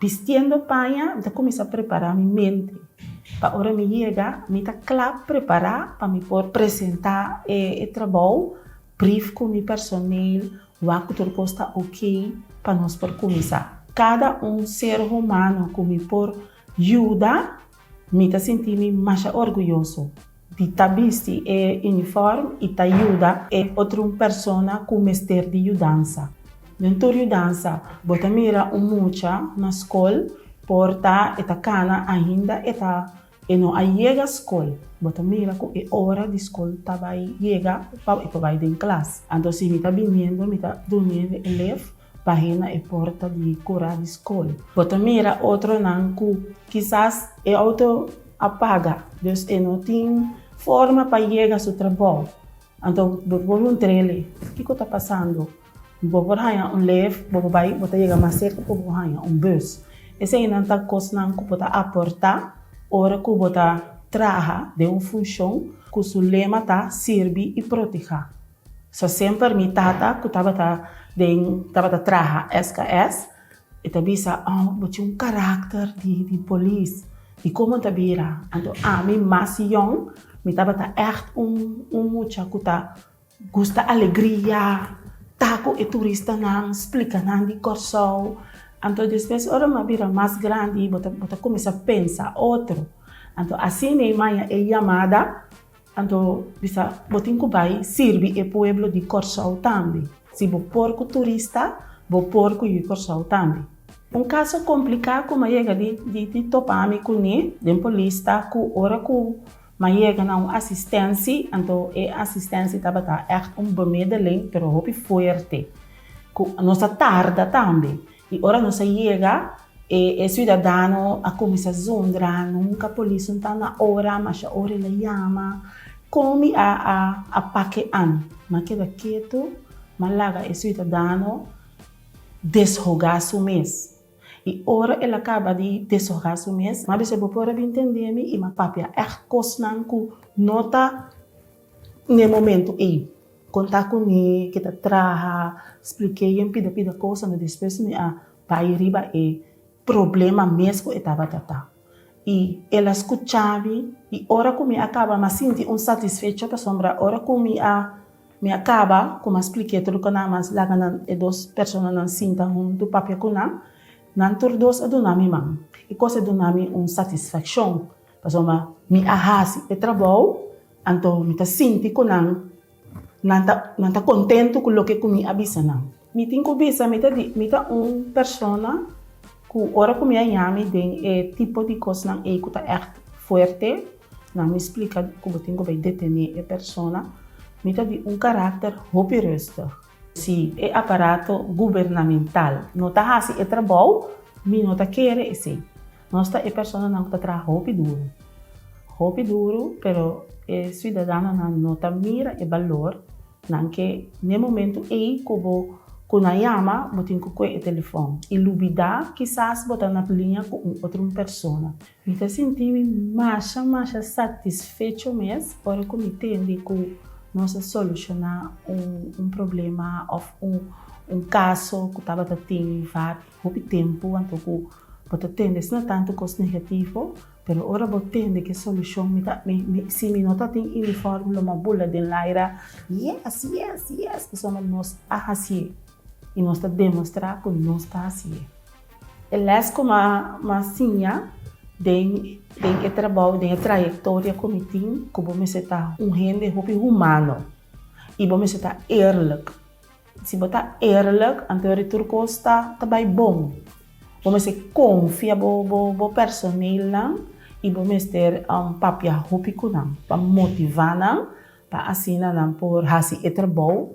Bistiendo paña, mi ta kuminsá prepará mi mente pa ora mi yega mi ta kla prepará pa mi por presentá e trabou, brief ku mi personel, wak ku tur kos ta okey pa nos por kuminsá. Kada un ser humano ku mi por yuda. Mi ta sinti mi masha orguyoso di ta bisti e unifòrm i ta yuda e otrun persona ku mester di yudansa. Den tur yudansa bo ta mira un mucha na skol por ta e ta kana ainda e ta e no a yega skol, bo ta mira ku e ora di skol ta bai yega pa e por bai den klas. Anto si mi ta biniendo, mi ta duniendo elèf Pahina e porta di kura di skol. Bo ta mira otronan ku kisas e outo a paga, dus e no tin forma pa yega su trabou. Anto bo por huntr'e kiko ta pasando. Bo por haña un lef, bo por bai, bo ta yega mas serka ku bo haña un bus. Eseinan ta kosnan ku bo ta aportá ora ku bo ta traha den un funshon ku su lema ta Sirbi i Protehá. Sa semper mi tata cu tabata den tabata traha SKS e ta bisa oh bo tin un caracter di di polis di como ta bira anto ami mas yong mi tabata echt un un mucha cu ta gusta alegria ta cu e turistanan splica nan di Corsou anto despues ora mi a bira mas grandi bo ta bo ta comisa pensa otro anto asi mi maya e yamada Anto di sa bo tin ku bai sirbi e pueblo di Kòrsou tambe. Si bo por ku turista, bo por ku yu Kòrsou tambe. Un kaso kompliká ku m'a yega di di topa mi kuné den polista ku ora ku m'a yega na un asistensi, anto e asistensi tabata ègt un bemedelen, pero hopi fuerte, ku nos a tarda tambe. I ora nos a yega, e siudadano a kuminsá zundra, nunka polis no ta na ora, masha ora el a yama, kon mi a a pake'an? Mi a keda ketu, mi a laga e siudadano deshogá su mes. I ora el a kaba di deshogá su mes, mi a bisa bo por a bin tendé mi i mi a papia ègt kosnan ku no ta. N'e momento ey, con ta cu mi ke ta traha, spliqué yen pida pida cosa, ma despues mi a bay riba e problema mes cu e tabata ta. Y el a scucha mi, y ora cu mi a caba mi a sinti un satisfecho pasobra ora cu mi a mi a caba cu mi a spliqué tur locunan mi a laga nan e dos personanan sinta hunto papia cu nan, nan tur dos a duna mi man. E cosa a duna mi un satisfaccion pasobra mi a haci e trabou Anto mi ta sinti ku nan, nan ta, nan ta kontentu ku loke ku mi a bisa nan. Mi tin ku bisa mi ta di, mi ta un persona ku ora ku mi a yami den e tipo di kosnan ei ku ta ègt fuerte, nan mi splika ku bo tin ku bai detené e persona, mi ta di un karakter hopi rùstig. Si e aparato gubernamental no ta hasi e trabou, mi no ta kere esei. Nos ta e personanan ku ta traha hopi duru, hopi duru, pero e siudadanonan no ta mira e balor nan ke n'e momentu ei ku bo ku nan yama bo tin ku kue e telefon i lubidá kisas bo ta na liña ku un otro un persona. Mi ta sinti mi masha masha satisfecho mes ora ku mi tende ku nos a solushoná un problema òf un kaso ku tabata tin vat hopi tempu anto ku bo ta tende asina tantu kos negativo, pero ora bo tende ki solushon mi ta si mi no ta tin uniform lo mi a bula den laira yes yes yes pasobra nos a hasié. i nos ta demostrá ku nos ta hasi e. E lès ku m'a siña den e trabou, den e trayektoria ku mi tin, ku bo mester ta un hende hopi humano i bo mester ta eerlik. Si bo ta eerlik, anto yori tur kos ta bai bon. Bo mester konfia bo personelnan i bo mester papia hopi ku nan pa motivá nan pa asina nan por hasi e trabou.